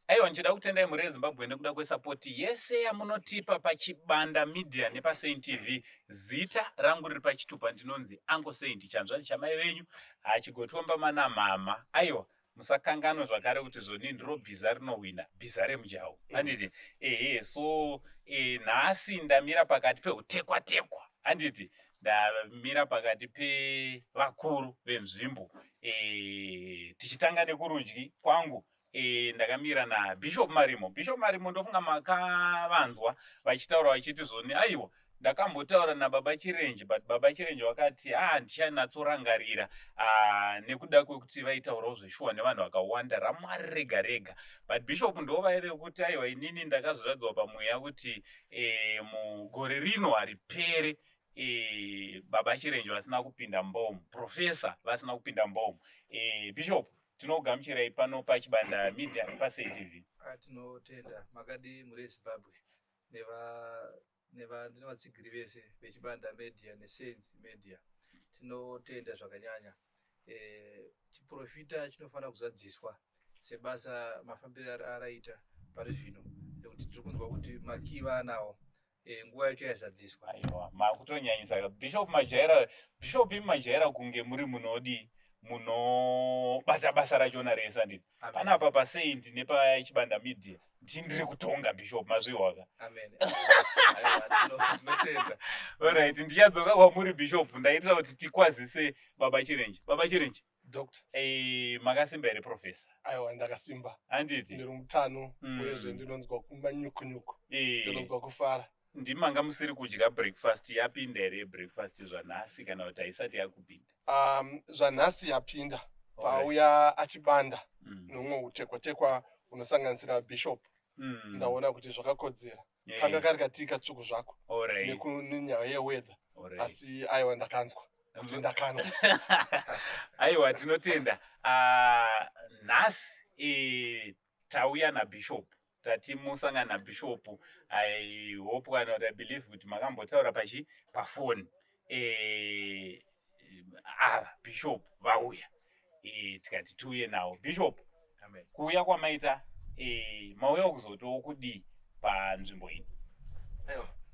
Aiwa ndichida kutendai mhuri yeZimbabwe nekuda kwesapoti yese yamunotipa paChibanda Media nepaSaint TV. Zita rangu riri pachitupa ndinonzi Uncle Saint chanzvadzi chamai venyu hachigotomba mana mhamha. Aiwa musakanganwe zvakare kuti zvoni ndiro bhiza rinohwina bhiza remujawo handiti ehe so e, nhasi ndamira pakati peutekwa tekwa handiti ndamira pakati pevakuru venzvimbo e, tichitanga nekurudyi kwangu e, ndakamira nabishop marimo bishop marimo ndofunga makavanzwa vachitaura vachiti zvoni aiwa ndakambotaura nababa chirenje but baba chirenje vakati a ah, ndichanatsorangarira ah, nekuda kwekuti vaitaurawo zveshuwa nevanhu vakawanda ramwari rega rega but bishop ndo vaive kuti aiwa inini ndakazviradzwa pamweya kuti e, mugore rino haripere e, baba chirenje vasina kupinda mbomu profesa vasina kupinda mbomu e, bishop tinokugamuchirai pano pachibanda media pasaitv ah, tinotenda makadii muri ezimbabwe nevatsigiri vese vechibanda media nesains media tinotenda zvakanyanya e, chiprofita chinofanira kuzadziswa sebasa mafambiro araita pari zvino nekuti tiri kunzwa kuti makii vaanawo Eh, nguva yacho yazadziswa aiwa makutonyanyisa ka bishop majaira bishop imi majaira kunge muri munodii munobata basa rachona rese anditi Amen. panapa pasaint nepachibanda media ndii ndiri kutonga bishop mazvihwaka Amen. Aiwa, tino- tinotenda orit ndichadzoka kwamuri bishop ndaitira kuti tikwazise baba chirenje baba chirenje doctor Eh, makasimba here professor aiwa ndakasimba handiti ndiri mutano Mm. uyezve ndinonzwa kumba nyukunyuku Eh, ndinonzwa kufara ndimi manga musiri kudya breakfast yapinda here breakfast zvanhasi kana kuti haisati yakupinda um, zvanhasi yapinda Alright. pauya achibanda Mm. nomwe utekwatekwa unosanganisira bishop mm. ndaona kuti zvakakodzera yeah. kanga kari katii katsvuku zvako nekunyaya yeweather asi aiwa ndakanzwa kuti mm. ndakanwa aiwa tinotenda ah, nhasi e, tauya nabishop tati musangana nabishop i hope kana kuti i believe kuti makambotaura pachi pafoni eh, ava bishop vauya eh, tikati tiuye nawo bishop kuuya kwamaita eh, mauya kuzotiwo kudii panzvimbo ino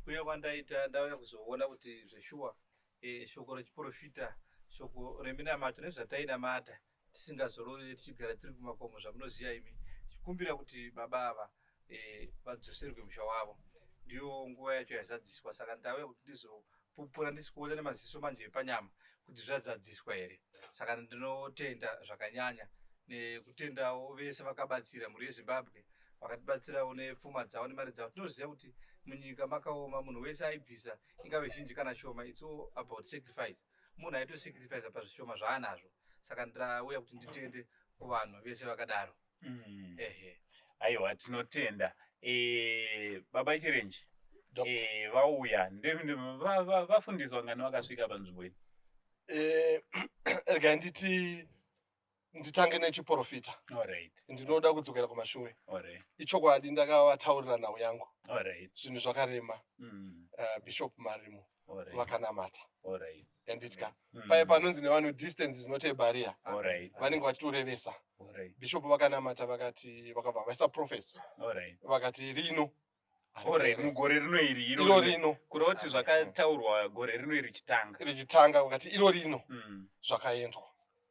kuuya kwandaita ndauya kuzoona kuti zveshuwa eh, shoko rechiprofita shoko reminamato nezvatainamata tisingazorore tichigara tiri kumakomo zvamunoziva imi chikumbira kuti baba ava eh, vadzoserwe musha wavo ndiyo nguva yacho yazadziswa saka ndauya kuti ndizopupura ndisikuona nemaziso manje epanyama kuti zvazadziswa here saka ndinotenda zvakanyanya nekutendawo vese vakabatsira mhuri yezimbabwe vakatibatsirawo nepfuma dzavo nemari dzavo tinoziva kuti munyika makaoma munhu wese aibvisa ingave zhinji kana shoma its all about sacrifice munhu aito sacrifice pazvishoma zvaanazvo saka ndauya kuti nditende kuvanhu vese vakadaro mm. ehe aiwa tinotenda e, baba chirenji e, vauya vafundiswa ngani vakasvika panzvimbo iyi e, rega nditi nditange nechiporofita ndinoda kudzokera kumashure ichokwadi ndakavataurira nhau yangu zvinhu zvakarema mm. uh, bishop marimo vakanamata yanditya mm. paye panonzi nevanhu distance is not a barrier vanenge vachitorevesa bishop vakanamata vakati vakabva vaisa profesi vakati rino Alright, mugore rino iri iro iro rino rino kureva kuti zvakataurwa gore rino iri chitanga richitanga ukati iro rino Mm. zvakaendwa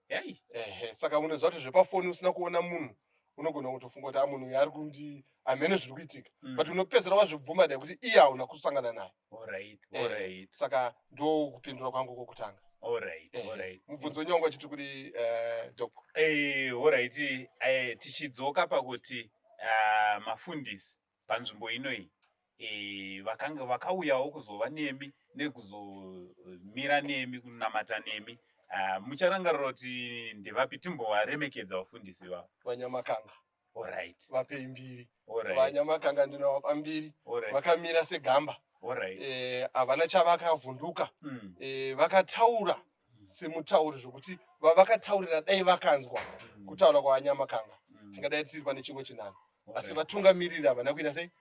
Yai. ehe saka unoziva kuti zvepafoni usina kuona munhu unogona kutofunga kuti a munhu uyu ari kundi hameno zviri kuitika Mm. but unopedzera wazvibvuma dai kuti iye hauna kusangana naye Alright, Eh, alright, saka ndo kupindura kwangu kokutanga alright, Eh, alright. mubvunzo wenyu wanga uchiti kudi eh, doc Eh, alright, eh, tichidzoka pakuti ah, mafundisi panzvimbo inoyi eh, vakanga vakauyawo kuzova nemi nekuzomira nemi kunamata nemi Ah, mucharangarira kuti ndevapi timbovaremekedza vafundisi vavo vanyamakanga Alright. Vapei mbiri. Alright. Vanyamakanga ndinovapa mbiri. Alright. Vakamira segamba. Alright. Eh, havana chavakavhunduka. Mm. Eh, vakataura semutauri zvekuti vavakataurira dai vakanzwa mm. kutaura kwavanyamakanga. Mm. Tingadai tiri pane chimwe chinano. Alright. Asi vatungamiriri havana kuita sei?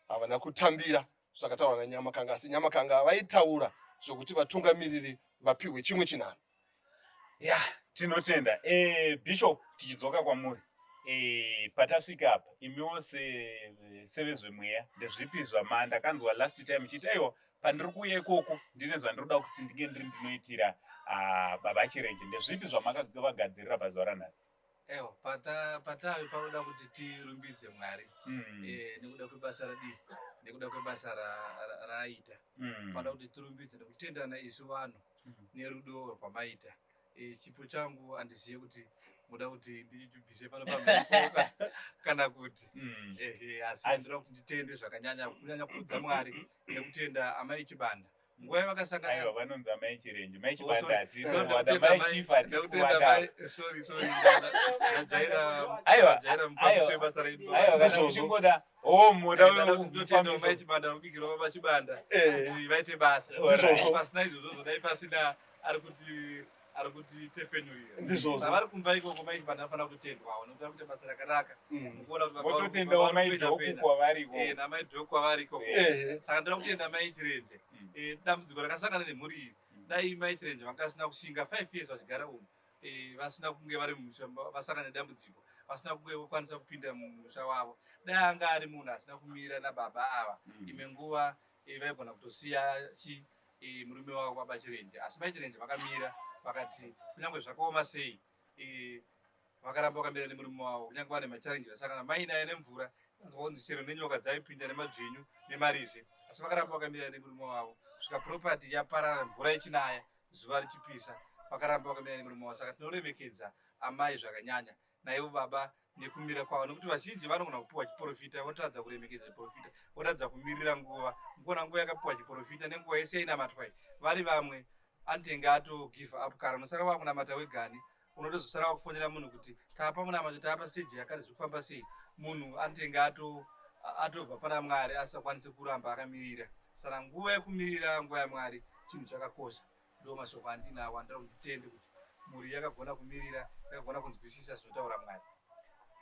Havana kutambira. zvakataurwa nanyamakanga asi nyamakanga vaitaura zvokuti vatungamiriri vapihwe chimwe chinhanho ya tinotenda e, bishop tichidzoka kwamuri e, patasvika apa imiwo sevezvemweya ndezvipi zvama ndakanzwa last time chiti aiwa pandiri kuuya ikoko ndine zvandiroda kuti ndinge ndiri ndinoitira ah, baba chirenje ndezvipi zvamakavagadzirira pazuva ranhasi Ewa, pata patave pakuda kuti tirumbidze Mwari mm. e, nekuda kwebasa radii nekuda kwebasa raaita ra, ra mm. panoda kuti tirumbidze nekutendana isu vanhu mm. nerudo rwamaita e, chipo changu handizive kuti muda kuti ndibvise pano pamhepoka kana kuti mm. e, e, asi ndinoda kuti nditende zvakanyanya kunyanya kuudza Mwari nekutenda amai Chibanda nguva yavakasangana aiwa vanonzi amai chirenje mai chibanda hatisi kuwada mai chief hatisi kuwada aiwa kana uchingoda o moda wekutenda mai chibanda kubikira baba chibanda kuti vaite basa pasina izvozvo zvodai pasina ari kuti ari kuti tepfenyurira ndizvozvo savari kumba ikoko maiti vanhu vanofanira kutendwawo nokuti kuti basa rakanaka mukuona kuti vototendawo maidhoku kwavari ikoko eh, namaidhoku kwavari ikoko eh. saka ndoda kutenda maitirenje mm. eh, dambudziko rakasangana nemhuri iri mm. dai maitirenje vanga vasina kushinga five years vachigara umu vasina kunge vari mumusha vasangana nedambudziko vasina kunge vokwanisa kupinda mumusha wavo dai anga ari munhu asina kumira nababa ava mm. imwe nguva vaigona kutosiya chii eh, murume wavo kwabachirenje asi baichirenje vakamira vakati kunyange zvakaoma sei eh, vakaramba vakamira nemurume wavo kunyange vane macharenji vasangana mainaye nemvura anzwaonzi chero nenyoka dzaipinda nemadzvinyu nemarize asi vakaramba vakamira nemurume wavo kusvika propati yaparara mvura ichinaya zuva richipisa vakaramba vakamira nemurume wavo saka tinoremekedza amai zvakanyanya naivo baba nekumira kwavo nokuti vazhinji vanogona kupiwa chiporofita votadza kuremekedza chiporofita votadza kumirira nguva mukona nguva yakapiwa chiporofita nenguva yese yainamatwai vari vamwe anotenge ato give up kara unosara wakunamata wegani unotozosara wakufonera munhu kuti tapa munamato tapa stage yakati zviri kufamba sei munhu anotenge ato atobva pana mwari asakwanise kuramba akamirira saka nguva yekumirira nguva yamwari chinhu chakakosha Ndiwo mashoko andinawo andinoda kuti titende kuti mhuri yakagona kumirira, yakagona kunzwisisa zvinotaura Mwari.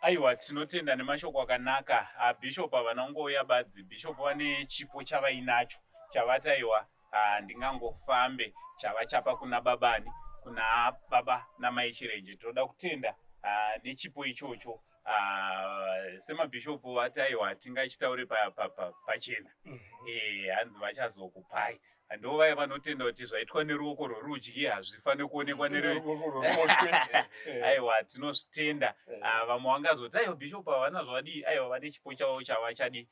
Aiwa, tinotenda nemashoko akanaka abhishopu avanongouya badzi. Bhishopu vane chipo chavainacho chavati aiwa handingangofambe chavachapa kuna babani kuna baba namai chirenje tinoda kutenda ah, nechipo ichocho ah, semabhishopu vati aiwa tingachitaure pachena mhm. eh, hanzi vachazokupai Ndo vaya vanotenda kuti zvaitwa neruoko rworudyi hazvifanire kuonekwa neaiwa tinozvitenda eh. ah, vamwe vangazoti aiwa bishop havana zvavadii aiwa vane chipo chavo chavachadi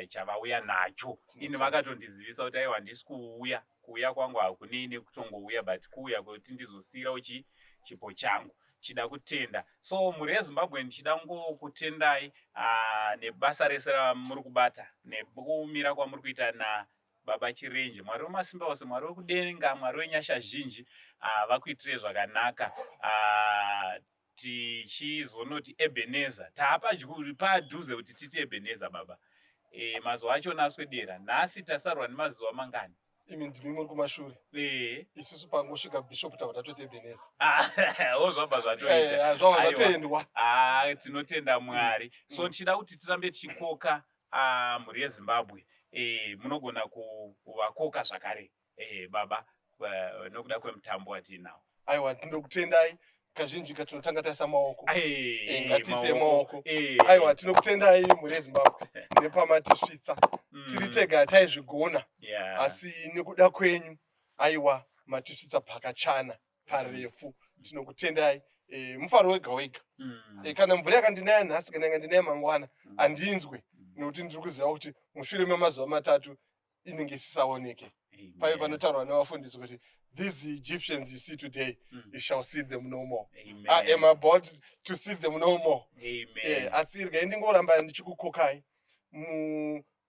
chavauya nacho ini vakatondizivisa kuti aiwa handisi kuuya kuuya kwangu hakunini kutongouya but kuuya kwekuti ndizosiyira uchi chipo changu chida kutenda so mhuri yezimbabwe ndichida ngokutendai ah, nebasa rese ramuri kubata nekumira kwamuri kuita na Baba Chirenje, Mwari wemasimba ose, Mwari wekudenga, Mwari wenyasha zhinji, ah, vakuitire zvakanaka. Ah, tichizonoti Ebenezer, taapadyu padhuze kuti titi Ebenezer baba. E, mazuva acho naswedera, nhasi tasarwa nemazuva mangani? imi ndimi muri kumashure eh. isusu pangosvika bishop tava tatoita ebeneza ah, o zvabva zvatoitazvava eh, zvatoendwa ah, tinotenda mwari so mm. tichida kuti tirambe tichikoka Ah, mhuri yezimbabwe eh, munogona kuvakoka zvakare eh, baba eh, nokuda kwemutambo watiinawo aiwa tinokutendai kazhinji katinotanga taisa maoko Eh, Eh, ngatiise maoko. eh, aiwa tinokutendai mhuri yezimbabwe nepamatisvitsa mm, tiri tega hataizvigona yeah. asi nekuda kwenyu aiwa matisvitsa pakachana parefu tinokutendai e, mufaro wega wega mm. e, kana mvura yakandinaya nhasi kana yakandinaya mangwana mm. handinzwe mm. nekuti ndiri kuziva kuti mushure memazuva matatu inenge isisaoneke pave panotaurwa nevafundisi kuti these egyptians you see today mm. you shall see them no more Amen. i am about to see them no more e, asi regai ndingoramba ndichikukokai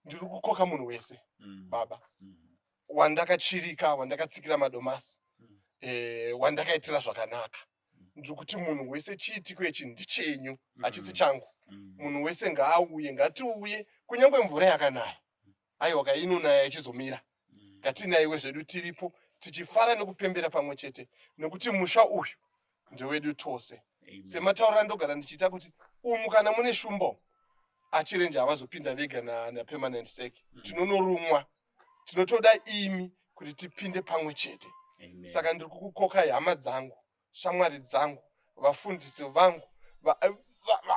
ndiri kukoka munhu wese mm. baba mm. wandakatsvirika wandakatsikira madomasi mm. eh, wandakaitira zvakanaka mm. ndiri kuti munhu wese chiitiko ichi ndichenyu mm. hachisi changu munhu wese ngaauye ngatiuye kunyange mvura yakanaya aiwa ka inonaya ichizomira ngatinaiwe zvedu tiripo tichifara nekupembera pamwe chete nekuti musha uyu ndewedu tose semataurira ndogara ndichiita kuti umu kana mune shumbo achirenje havazopinda vega napermanent sec tinonorumwa tinotoda imi kuti tipinde pamwe chete saka ndiri kukukokai hama dzangu shamwari dzangu vafundisi vangu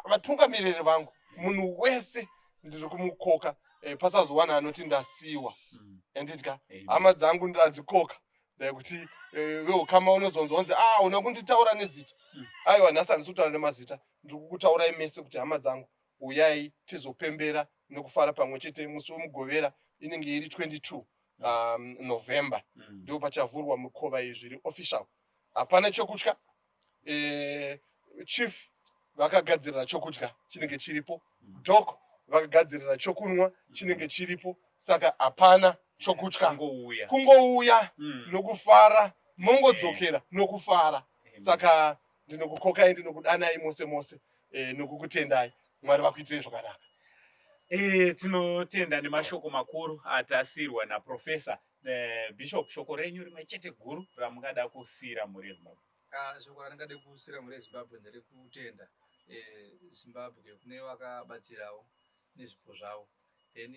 vatungamiriri vangu munhu wese ndiri kumukoka eh, pasazowana anoti ndasiwa mm. andidya hama dzangu ndadzikoka dai kuti eh, veukama unozonzwa kunzi a ah, una kunditaura nezita mm. aiwa nhasi handisi kutaura nemazita ndiri kukutaurai mese kuti hama dzangu Uyai tizopembera nekufara pamwe chete musi wemugovera inenge iri 22 um, november mm. ndipo pachavhurwa mukova iyi zviri official hapana chokutya e, chief vakagadzirira chokudya chinenge chiripo mm. dok vakagadzirira chokunwa mm. chinenge chiripo saka hapana chokutya kungouya mm. nokufara mongodzokera nokufara saka ndinokukokai ndinokudanai mose mose e, nokukutendai mwari vakuitirei zvakanaka e, tinotenda nemashoko makuru atasirwa naprofesa e, eh, bishop shoko renyu rimwe chete guru ramungada kusiyira mhuri yezimbabwe ah, shoko randingade kusiyira mhuri yezimbabwe nderekutenda e, zimbabwe kune vakabatsirawo nezvipo zvavo then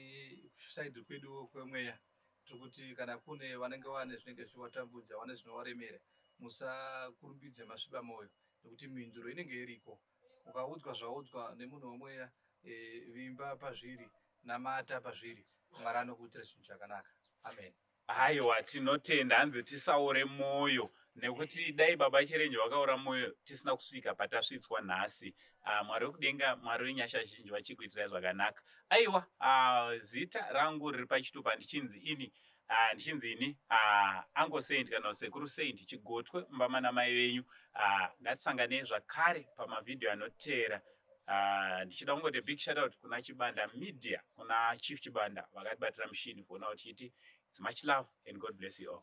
kusaidi kwedu kwemweya tiri kuti kana kune vanenge vane zvinenge zvichivatambudza vane zvinovaremera musakurumbidze masviba mwoyo nekuti mhinduro inenge iriko ukaudzwa zvaudzwa nemunhu wemweya e, vimba pazviri namata pazviri mwari anokuitira chinhu chakanaka amen haiwa tinotenda hanzi tisaore mwoyo nekuti dai baba chirenje vakaora mwoyo tisina kusvika patasvitswa nhasi ah, mwari wekudenga mwari wenyasha zhinji vachikuitirai zvakanaka aiwa ah, zita rangu riri pachitupa ndichinzi ini ah, ndichinzi ini ango saint kana sekuru saint chigotwe mbama namai venyu ndatisangane zvakare pamavhidhiyo anoteera ndichida kungoti big shoutout kuna chibanda media kuna chief chibanda vakatibatira mushini kuona kuti chiti its much love and god bless you all